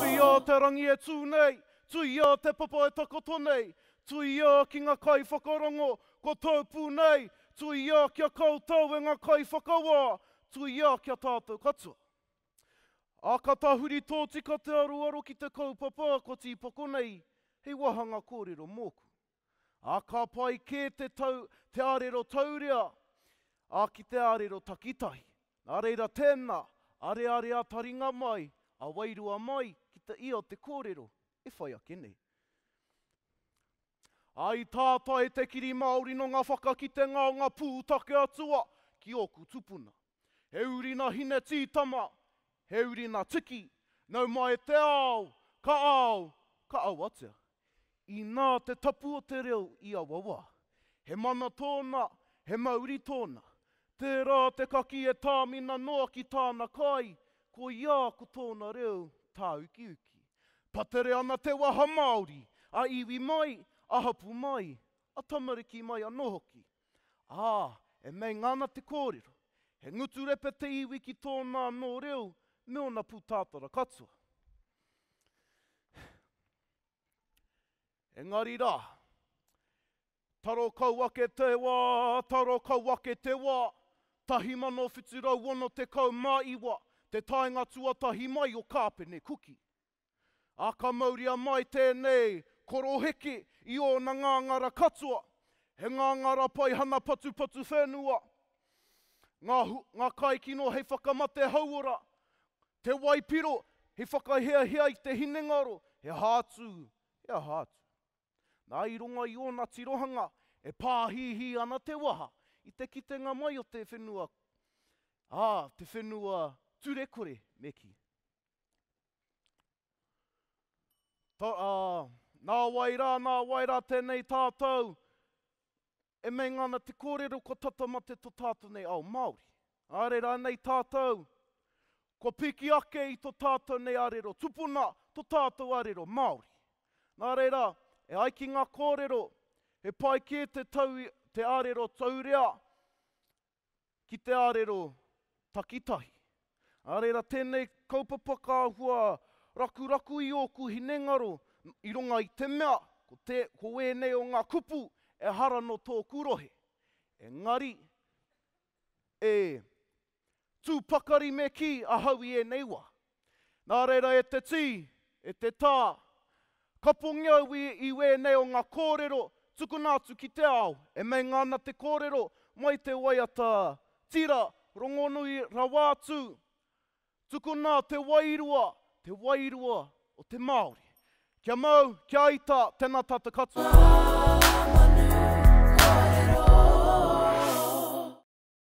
Tuia o te rangi e tū nei, tuia o te papa e takoto nei, tuia ki nga kai whakarongo, kua tau pū nei, tuia kia koutou e nga kai whakawā, tuia kia tātou katoa. A ka tahuri tōtika te aroaro ki te kaupapa kua tīpako nei hei wahanga kōrero mōku. Ā, ka pai kē te tau te arero taurea, ā, ki te arero takitahi. Nā reira tēnā, areare a taringa mai, a wairua mai ki te ia o te kōrero e whai ake nei. Ā, i tātai te kiri Māori nō ngā whakakitenga o ngā pūtake atua ki ōku tupuna. He uri na Hine Tītama, he uri na Tiki, nau mai e te ao, ka ao, ka awatea. Inā te tapu o te reo i aua wā. He mana tōna, he mauri tōna. Tērā te kakī e tāmina noa ki tāna kai, koiā ko tōna reo tāukiuki. Patere ana te waha Māori, a iwi mai, a hapū mai, a tamariki mai anō hoki. Ā, e meinga ana te kōrero, he ngutu repe te iwi ki tōna anō reo me ōna pūtātara katoa. Engari rā, taro kau ake te wā, taro kau ake te wā, 1769 te taenga tuatahi mai o Kāpene Kuki. Ā, ka mauria mai tēnei koroheke i ōna ngāngara katoa, he ngāngara paihana patupatu whenua, ngā, ngā kaikino hei whakamate hauora, te waipiro hei whakahiahia i te hinengaro, he aha atu, he aha atu. Nā, i runga i ōna tirohanga, e pāhihi ana te waha i te kitenga mai o te whenua, ā, te whenua turekore me kī. Ta, ā, nā wai rā, nā wai rā tēnei tātou e meinga ana te kōrero kua tata mate tō tātou nei ao Māori. Āre rānei tātou kua piki ake i tō tātou nei arero tupuna, tō tātou arero Māori. Nā reira, e ai ki ngā kōrero, he pai kē te tau te arero taurea ki te arero takitahi. Ā reira tēnei kaupapa ka hua rakuraku i ōku hinengaro i runga i te mea ko te, ko wēnei o ngā kupu ehara nō tōku rohe. Engari, e tū pakari me kī ahau i ēnei wā. Nā reira e te tī, e te tā, kapongi au i, i wēnei o ngā kōrero tukuna atu ki te ao, e meinga ana te kōrero mai te waiata tira rongonui rawa atu, tukuna te wairua, te wairua o te Māori. Kia mau, kia ita, tēnā tātou katoa.